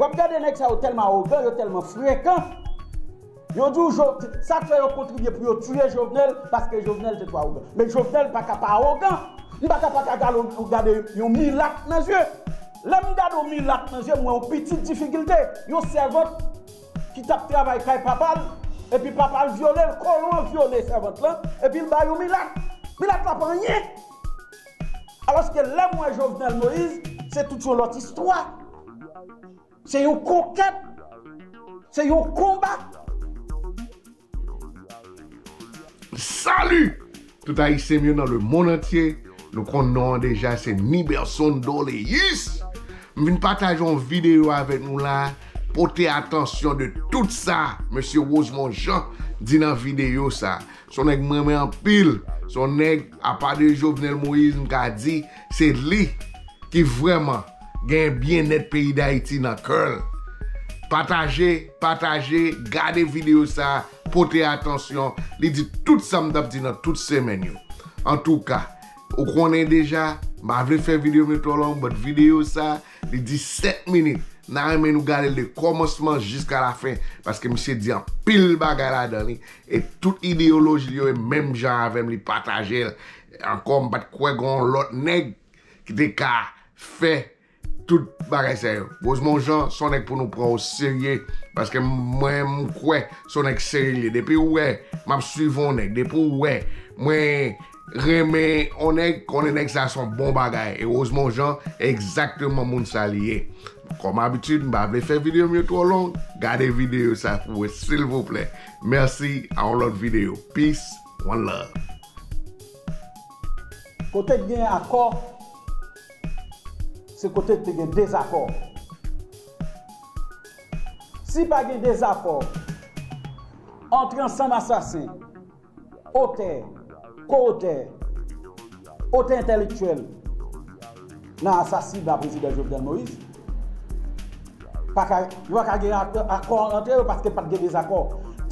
Wap gade nèg sa yo tèlman awogan, yo tèlman frekan, yo di w sak fè yo kontribye pou yo tiye Jovenel paske Jovenel te twò awogan. Men Jovenel paka pa awogan, m paka paka gade yon milat nan zye. Lè m gade yon milat nan zye m wè yon pitit difikilte, yon sèvant. ki tap travay kay papal epi papal vyolel kolon an vyole sèvant lan epil ba yon milat milat la pa anyen aloske lèm wè jovenel moïse se tout yon lòt istwa se yon konkèt se yon konba. Salut tout ayisyen m yo nan le mond antye nou konn non an deja se Niberson Doleus m vin pataje yon video avèk nou la pote atansyon de tout sa mesye Rosemond Jean di nan video sa son nèg m renmen anpil son nèg apa de Jovenel Moïse m ka di Se li ki vreman gen byenèt peyi dayiti nan kèl. Pataje, pataje, gade video sa, pote atansyon, li di tout sa m tap di nan tout semèn yo. Antouka, ou konnen deja, m pa vle fè video m yo twò long but video sa, li di 7 minit, na renmen nou gade l de kòmansman jiska la fen paske misye di anpil bagay ladan li e tout ideyoloji li yo e menm jan avè m li pataje l Ankò m pat kwè gon yon lòt nèg ki te ka fè tout bagay sa yo. Rosemond Jean son nèg pou nou pran o serye paske mwen m kwè son nèg serye liye depi ou wè map swiv on nèg depi ou wè mwen renmen on nèg konnen nèg sa son bon bagay e Rosemond Jean egzakteman moun sa li ye. Kòm abitid m pa vle fè video m yo twò long gade video sa pou mwen silvouplè. Mèsi a on lòt video. Peace. One love. Kote k gen akò, se kote k te gen dezakò. Si pa gen dezakò, antre ansanm asasen, otè, ko-otè, otè entèlektyèl. Nan asasina Prezidan Jovenel Moïse, pa ka, yo pa ka gen akò antre yo paske pat gen dezakò.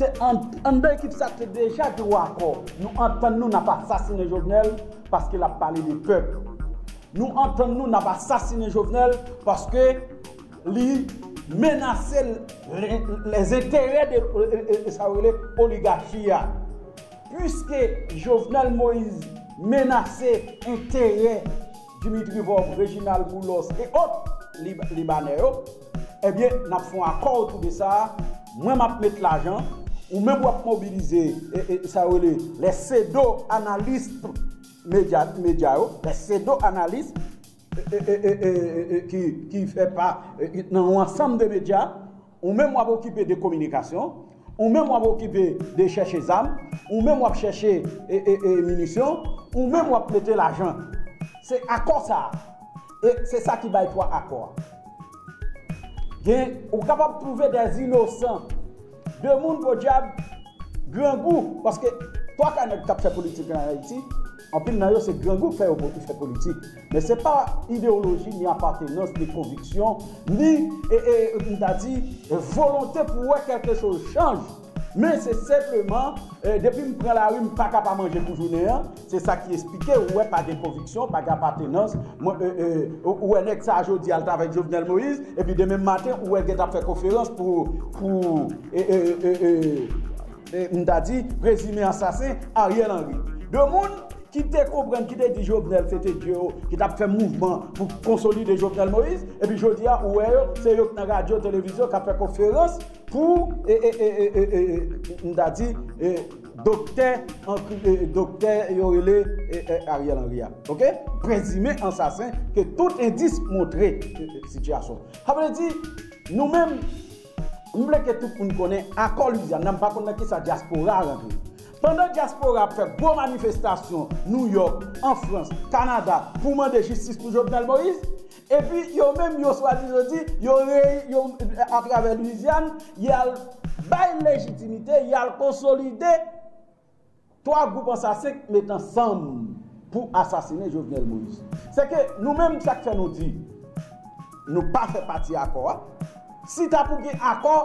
Te anndan ekip sa te deja gen yon akò. Nou antann nou nap asasinen Jovenel paske lap pale de pèp. Nou antann nou nap asasinen Jovenel paske li menase lèzenterè de sa yo rele oligachi a. Puiske Jovenel Moise menase enterè Dimitri Vorbe, Reginald Boulos e ot Libanè yo, ebyen n ap fè yon akò otou de sa, mwen m ap met lajan, ou menm w ap mobilize sa yo rele les pseudo analystes medya yo, les pseudo analystes ki fè pa nan yon ansanm de medya. Ou menm wap okipe de kominikasyon, ou menm wap okipe de chèche zam, ou menm wap chèche minisyon, ou menm wap mete lajan. Se akò sa a. E se sa ki bay pwa akò a. Gen, ou kapab twouve dè inosan, de moun podyab grangou, paske twa ka nèg kap fè politik an Ayiti, anpil nan yo se grangou k fè yo fè politik. Men se pa idewoloji, ni apatenans, ni konviksyon, ni, e, e, e, m ta di, volonte pou wè kèlke choz chanj. Men se senpleman, e, depi m pran lari m paka pa manje pou jounen an, se sa ki esplike ou wè pa gen konviksyon, pa gen apatenans, mwen, e, e, ou wè nèg sa a jodi a l t avèk Jovenel Moïse, epi demen maten ou wè l gen t ap fè konferans pou, pou, e, e, e, e, e. M ta di, prezime asasen, Ariel Henry. De moun ki te konprann, ki te di Jovenel se te dye yo, ki t ap fè mouvman pou konsolide Jovenel Moïse, epi jodi a ou wè yo, se yo ki nan radyo, televizyon, k ap fè konferans pou, m ta di, doktè, doktè yo rele Ariel Henry a. Ok? Prezime ansasen ke tout endis montre sitiyasyon. Sa vle di, nou menm. M vle ke tout moun konnen akò Louisiane la m pa konn nan kisa dyaspora a rantre. Pandan dyaspora ap fè gwo manifestasyon New York, an Frans, Kanada pou mande jistis pou Jovenel Moïse, epi yo menm yo swazi yo di yo reyi yo atravè Louisiane y al bay lejitimite y al konsolide 3 gwoup ansasen k met ansanm pou asasine Jovenel Moïse. Se ke nou menm sak fè nou di nou pa fè pati akò a, si ta pou gen akò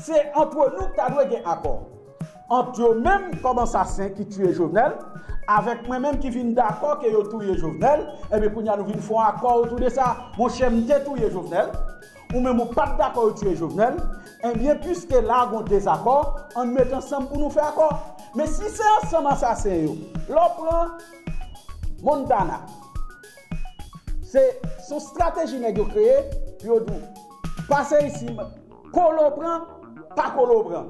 se antre nou k ta dwe gen akò. Ant yo menm kòm ansasen ki tiye Jovenel avèk mwen menm ki vin dakò ke yo touye Jovenel, enben kounya nou vin fon akò otou de sa. Monchè m te touye Jovenel, Ou menm ou pat dakò yo tiye Jovenel, enbyen pwiske la gon dezakò, ann met ansanm pou nou fè akò. Men si se ansanm asasen yo, lè w pran Montana, se son strateji nèg yo kreye pou yo di w, pase isi, kole w pran, pa kole w pran.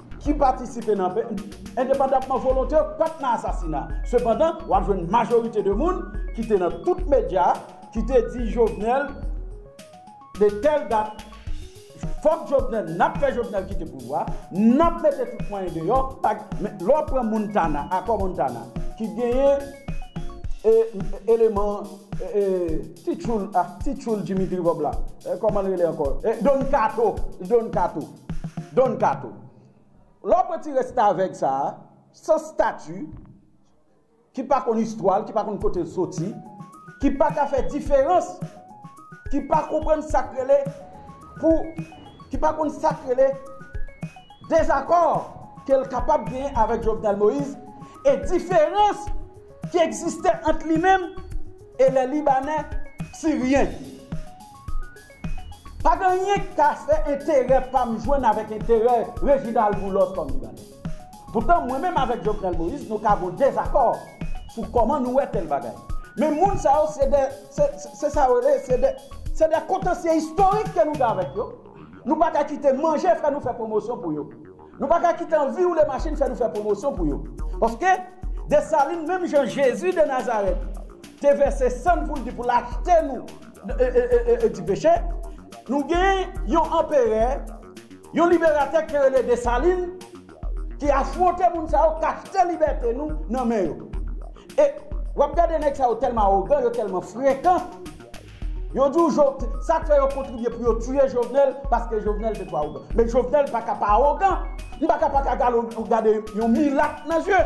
ki patisipe nan pe, endepandanpman volonte yo pa t nan asasina. Sepandan, w ap jwenn majorite de moun ki te nan tout medya ki te di Jovenel de tèl dat fòk Jovenel, n ap fè Jovenel kite pouvwa, n ap mete tout mwayen deyò, pa gen. Men, lè w pran Montana, akò Montana, ki genyen eleman ti tchoul, ti tchoul Dimitri Vob la, kòman l rele ankò? Don Kato, Don Kato. Don Kato. Lè w pran ti restavèk sa a, san stati, ki pa konn istwa l, ki pa konn kote l soti, ki pa ka fè diferans, ki pa konprann sa k rele pou, ki pa konn sa k rele dezakò ke l kapab genyen avèk Jovenel Moïse e diferans ki egziste ant li menm e lè Libanè, Siryen. Pa gen anyen k ka fè enterè pa m jwenn avèk enterè Reginald Boulos kòm Libanè. Poutan mwen menm avèk Jovenel Moïse nou ka gon dezakò sou kòman nou wè tèl bagay. Men moun sa yo se de, se sa yo rele, se de, se de kontansye istorik ke nou gen avèk yo. Nou pa ka kite manje fè nou fè pwomosyon pou yo. Nou pa ka kite anvi woule machin fè nou fè pwomosyon pou yo. Paske Dessalines menm jan Jezi de Nazarèt te vèse san l pou l di pou l achte nou, di peche, nou gen yon anperè, yon liberatè ki rele Desalin, ki afwonte moun sa yo, k achte libète nou nan men yo. E, w ap gade nèg sa yo tèlman awogan, yo tèlman frekan, yo di w Jo, sa k fè yo kontribye pou yo tiye Jovenel, paske Jovenel te twò awogan. Men Jovenel pa ka pa awogan, li pa ka pa ka gade yon milat nan zye.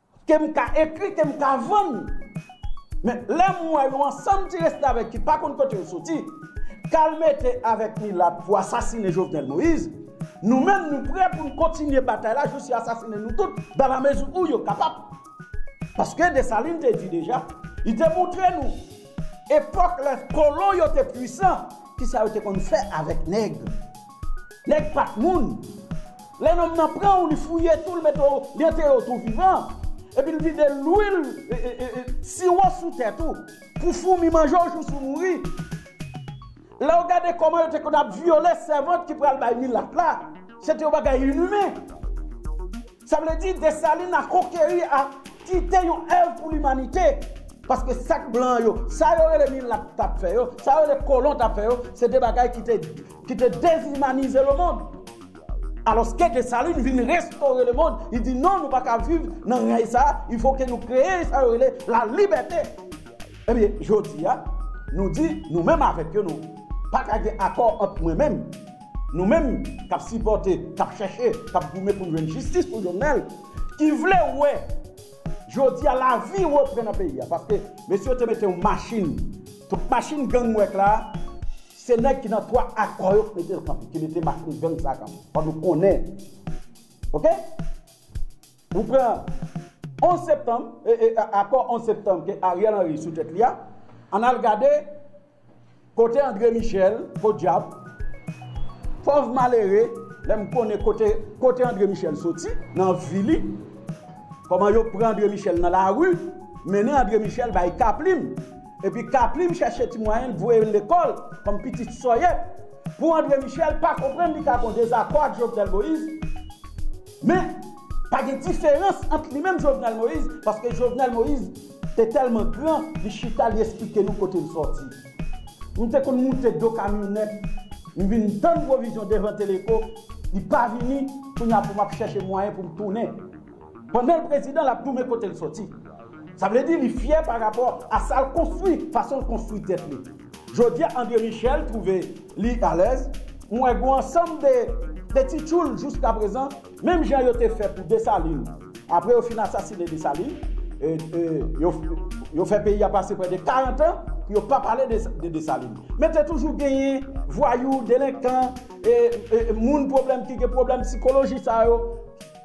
Ke m ka ekri, ke m ka vann. Men, lè m wè yon ansanm ti restavèk ki pa konn kote yo soti, kal mete avèk milat pou asasine Jovenel Moïse, nou menm nou prè pou n kontinye batay la jous yo asasine nou tout dan la mezi ou yo kapab. Paske Desalin te di deja, li te montre nou, epòk lè kolon yo te pwisan, kisa yo te konn fè avèk nèg. Nèg pat moun. Lè nonm nan pran w li fouye tou l mete w li antere w tou vivan. Epi l vide lwil siwo sou tèt ou pou foumi manje w jous ou mouri. Lè w gade kòman yo te konn ap vyole sèvant ki pral bay milat la, se te yon bagay inimen. Sa vle di Desalin a konkeri a kite yon èv pou limanite, paske sa k blan yo, sa yo rele milat t ap fè yo, sa yo rele kolon t ap fè yo, se te bagay ki te ki te dezimanize lemond. Alòske Desalin vin restore lemond, li di non nou pa ka viv nan rèy sa a, il fo ke nou kreye sa yo rele lalibète. Ebyen jodi a, nou di nou menm avèk yo nou pa ka gen akò ant mwen menm, Nou menm k ap sipòte, k ap chèche, k ap goumen pou n jwenn jistis pou Jovenel, ki vle wè jodi a lavi repran nan peyi a paske mesye yo te mete yon machin, tout machin gang nou wè k la a, se nèg ki nan twa akò yo ki mete l kanpe, ki mete machin gang sa a kanpe. Fò nou konnen. Ok? Ou pran 11 septanm, akò 11 septanm ke Ariel Henry sou tèt li a, ann al gade Kote andre michel podyab pòv malere lè m konnen kote kote andre michel soti nan vi li kòman yo pran andre michel nan lari mennen andre michel bay kaplim epi kaplim chèche ti mwayen l voye l lekòl kòm pitit sòyèt pou andre michel pa konprann li ka gon dezakò ak jovenel moïse men pa gen diferans ant li menm jovenel moïse paske jovenel moïse E tèlman gran, li chita li esplike nou kote l sòti. M te konn moute do kamyonèt, m vin tann pwovizyon devan Teleco, li pa vini, kounye a pou m ap chèche mwayen pou m tounen. Pandan l prezidan, l ap goumen kote l sòti. Sa vle di li fyè pa rapò a sa l konstwi, fason l konstwi tèt li. Jodi a André Michel twouve li alèz, m wè gou ansanm de ti tchoul jouskaprezan. Menm jan yo te fè pou Desalin, apre yo fin asasine Desalin, yo fè peyi a pase prè de 40 an pou yo pa pale de Desalin. Men te toujou genyen vwayou, delenkan, moun pwoblèm ki gen pwoblèm sikoloji sa yo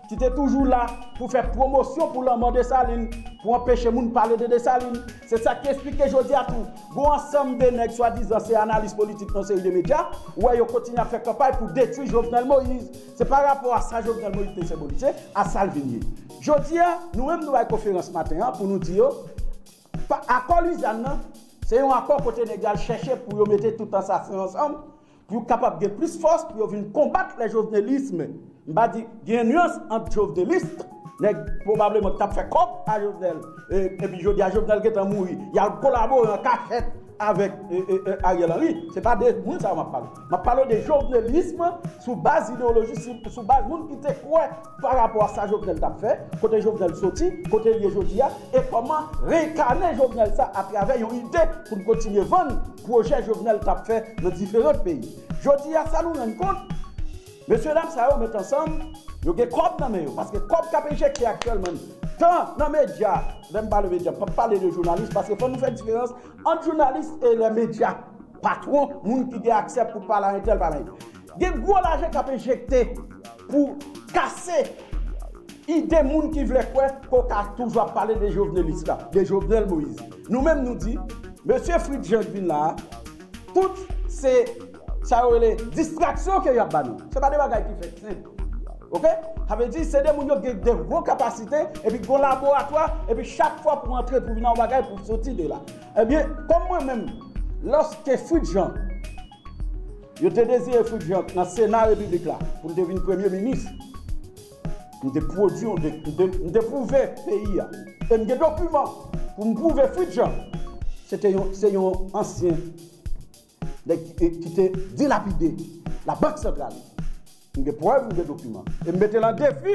ki te toujou la pou fè pwomosyon pou lanmò Desalin, pou anpeche moun pale de Desalin. Se sa ki esplike jodi a tou, gon ansanm de nèg swadizan se analis politik nan yon seri de medya, ou wè yo kontinye ap fè kanpay pou detwi Jovenel Moïse. Se pa rapò a sa Jovenel Moïse te senbolize a sa l vin ye. Jodi a, nou menm nou bay konferans maten an pou nou di yo, pa akò Luzann nan, se yon akò kote nèg yo al chèche pou yo mete tout ansasen ansanm pou yo kapab gen plis fòs pou yo vin konbat le jovenelisme. M pa di, gen yon nuans ant joveneliste, nèg pwobableman ki t ap fè kòb a Jovenel, epi jodi a Jovenel gen tan mouri, y al kolabore an kachèt avèk Ariel Henry. Se pa de moun sa yo m ap pale. M ap pale w de jovnelism sou baz ideyoloji, sou baz moun ki te kwè pa rapò a sa Jovnèl t ap fè, kote Jovnèl soti, kote l ye jodi a, e kòman reenkane Jovnèl sa atravè yon ide pou n kontinye vann pwojè Jovnèl t ap fè nan diferant peyi. Jodi a sa nou rann kont, mesye dam sa yo met ansanm, yo gen kòb nan men yo, paske kòb k ap enjekte aktyèlman n tan nan medya, lè m pale medya m p ap pale de jounalis paske fò nou fè diferans ant jounalis e lè medya. Patwon, moun ki gen aksè pou pale a entèl pale a entèl. Gen gwo lajan k ap enjekte pou kase ide moun ki vle kwè ke w ka toujou ap pale de Jovenelis la, de Jovenel Moïse. Nou menm nou di, mesye Fritz Jean k vin la a, tout se sa yo rele distraksyon ke y ap ba nou. Se pa de bagay ki fèt senp. Ok? Sa vle di, se de moun yo gen de gwo kapasite epi gen yon laboratwa epi chak fwa pou antre pou vin nan yon bagay pou soti de la. Ebyen, kòm mwen menm, lòske Fritz Jean, yo te deziye Fritz Jean nan Sena Repiblik la pou l te vin Premye Minis, m te pwodui, m te pwouve peyi a, e m gen dokiman pou m pwouve Fritz Jean se te yon, se yon ansyen nèg ki te dilapide Labank Santral. M gen prèv, m gen dokiman. E m mete l an defi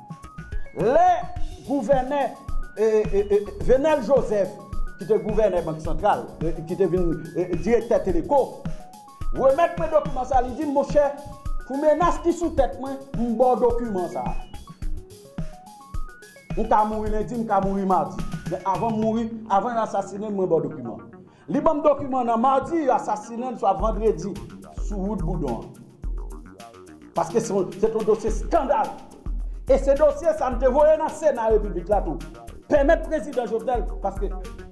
Lè gouvènè Venel Joseph ki te gouvènè Bank Santral, ki te vin direktè Teleco, remèt mwen dokiman sa a, li di m, monchè, pou menas ki sou tèt mwen, m ba w dokiman sa a. M ka mouri lendi, m ka mouri madi, men avan m mouri, avan yo asasinen m, mwen ba w dokiman an. Li banm dokiman nan mardi yo asasinenl swa vandredi sou wout boudon an. Paske se yon se te yon dosye skandal. E se dosye sa m te voye nan sena repiblik la tou. Pèmèt prezidan Jovenel paske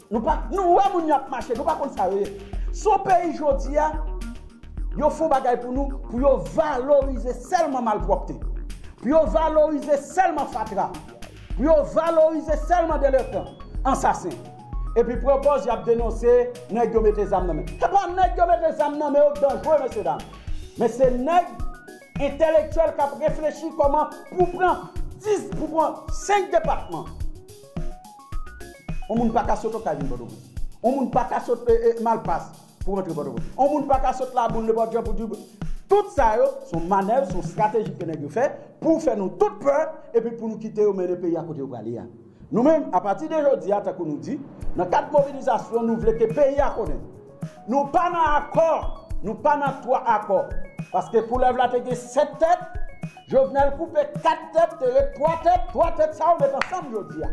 nou pa nou wè moun yo ap mache nou pa konn sa yo ye. Si yon peyi jodi a yo fon bagay pou nou pou yo valorize sèlman malpwòpte. Pou yo valorize sèlman fatra. Pou yo valorize sèlman delenkan, ansasen. Epi pran pòz yap denonse nèg yo mete zam nan men. Se pa nèg yo mete zam nan men yo ki danjre mesye dam. Men se nèg entèlektyèl kap reflechi kòman pou pran 10, pou pran 5 depatman. On moun paka sot Okay vin Pòtoprens. On moun paka sot Malpas pou rantre Pòtoprens. On moun paka sot Laboul, nenpòt jan pou di Tout sa yo son manèv, son strateji ke nèg yo fè pou fè nou tout pè epi pou nou kite yo mennen peyi a kote yo prale a. Nou menm, apati de jodi a, tankou nou di, nan kad mobilizasyon nou vle ke peyi a konnen, nou pa nan akò, nou pa nan twa akò. Paske koulèv la te gen sèt tèt, Jovenel koupe kat tèt, te ret twa tèt, twa tèt sa yo met ansanm jodi a.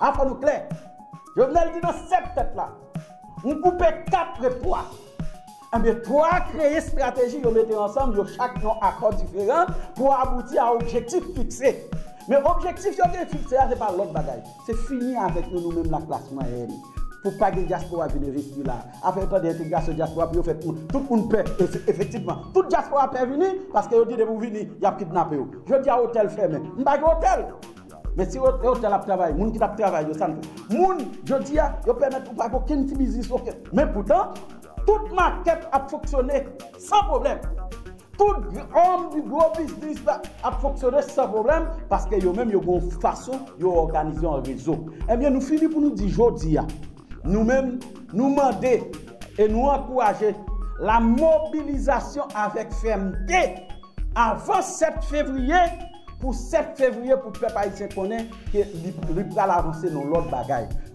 A fò nou klè. Jovenel di nan sèt tèt la, m koupe kat ret twa. Ebyen 3 kreye strateji yo mete ansanm yo chak yon akò diferan pou abouti a objektif fikse. Men objektif yo gen fikse a se pa lòt bagay, se fini avèk nou nou menm laklas mwayèn pou pa gen dyaspora vin envesti la. Afè yo tande entegrasyon dyaspora pou yo fè tout moun pè efektivman. Tout dyaspora pè vini paske yo di depi ou vini y ap kidnape ou. Jodi a otèl fèmen. M pa gen otèl. Men si otèl ap travay, moun ki t ap travay yo sa n fè? Moun jodi a yo pèmèt ou pa gen okenn ti biznis okenn. Men poutan. Tout makèt ap fonksyone san pwoblèm. Tout òm di gwo biznis la ap fonksyone san pwoblèm paske yo menm yo gen yon fason yo òganize an rezo. Ebyen nou fini pou nou di jodi a, nou menm nou mande e nou ankouraje la mobilizasyon avèk fèmte avan 7 fevriye pou 7 fevriye pou pèp ayisyen konnen ke li pral avanse nan lòt bagay.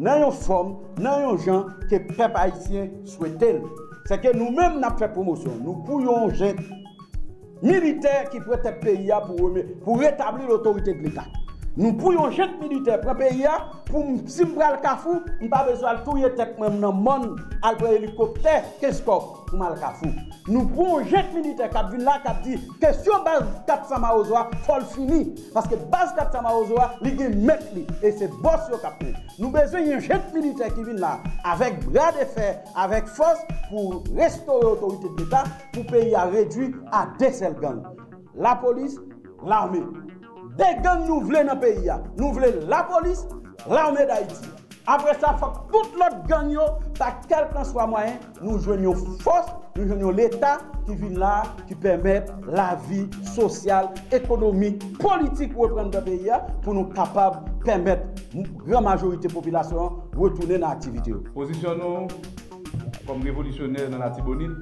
Nan yon fòm, nan yon jan ke pèp ayisyen swete l. Sè ke nou menm n ap fè pwomosyon nou pou yon jent militè ki pran tèt peyi a pou reme, pou retabli lotorite de leta. Nou pou yon jent militè pran peyi a pou m, si m pral Kafou, m pa bezwen al touye tèt mwen m nan mòn, al pran elikoptè Kenskòf pou m al Kafou. Nou pou yon jent militè k ap vin la k ap di kesyon baz 400 mawozo a fò l fini. Paske baz Capca Mawozo a li gen mèt li e se bòs yo kap mèt. Nou bezwen yon jent militè ki vin la avèk bra de fè, avèk fòs pou restore otorite de leta pou peyi a redwi a de sèl gang. Lapolis, lame. De gang nou vle nan peyi a. Nou vle lapolis, lame dayiti. Apre sa fòk tout lòt gang yo pa kèlkanswa mwayen Nou jwenn yon fòs, nou jwenn yon Leta ki vin la a, ki pèmèt lavi sosyal, ekonomik, politik reprann nan peyi a, pou nou kapab pèmèt gran majorite popilasyon an retounen nan aktivite yo. Pozisyon nou, kòm revolisyonè nan Latibonit,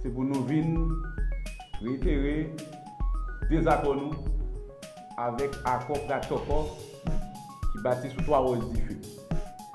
se pou nou vin reyitere dezakò nou avèk akò pratchòkò ki bati sou twa wòch dife.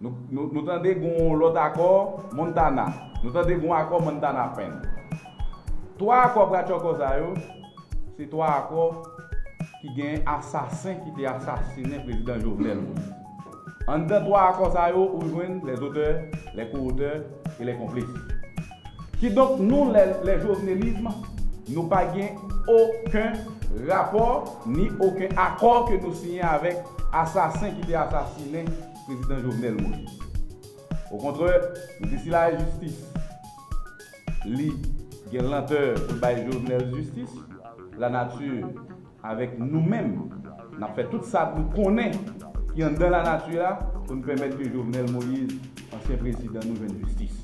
Nou tande g'on lòt akò Montana. Nou tande g'on akò Montana Pen. Twa akò pratchòkò sa yo, se twa akò ki gen asasen ki te asasinen Prezidan Jovenel Moïse. Anndan twa akò sa yo ou jwenn les auteurs, les co-auteurs et les complices. Kidonk nou lè le jovenelism nou pa gen oken rapò ni oken akò ke nou siyen avèk asasen ki te asasinen prezidan Jovenel Moïse. Okontrè, nou di si la jistis li gen lantè pou l bay Jovenel jistis, la nature. Avèk nou menm, n ap fè tout sa nou konnen ki anndan lanati a pou n pèmèt ke Jovenel Moïse, ansyen prezidan nou, jwenn jistis.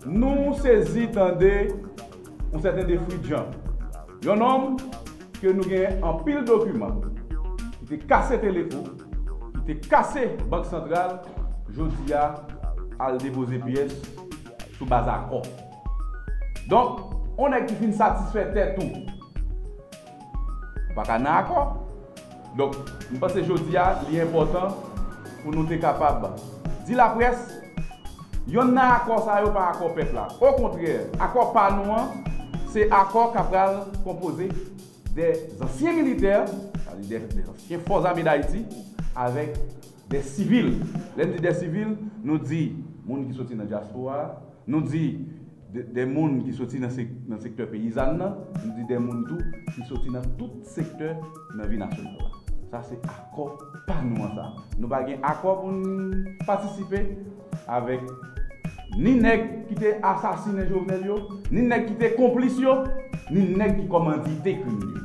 Nou sezi tande yon sèten De Fridjan, yon nonm ke nou gen anpil dokiman, ki te kase Teleko, ki te kase Bank Santral, jodi a al depoze pyès sou baz akò. Donk, yon nèg ki fin satisfè tèt ou, ou pa ka nan akò. Donk, m panse jodi a, li enpòtan pou nou te kapab di laprès, yonn nan akò sa yo pa akò pèp la. Okontrè, akò pa nou an, se akò k ap pral konpoze de zansyen militè, sa vle di de zansyen Fòzame Dayiti, avèk Dè sivil, lè n di dè sivil, nou di moun ki soti nan dyaspora a, nou di dè moun ki soti nan sektè peyizàn nan, nou di dè moun tou ki soti nan tout sektè nan vi nasyonal la. Sa se akò pa nou an sa. Nou pa gen akò pou n patisipe avèk ni nèg ki te asasinen Jovenel yo, ni nèg ki te konplis yo, ni nèg ki kòmandite krim yo.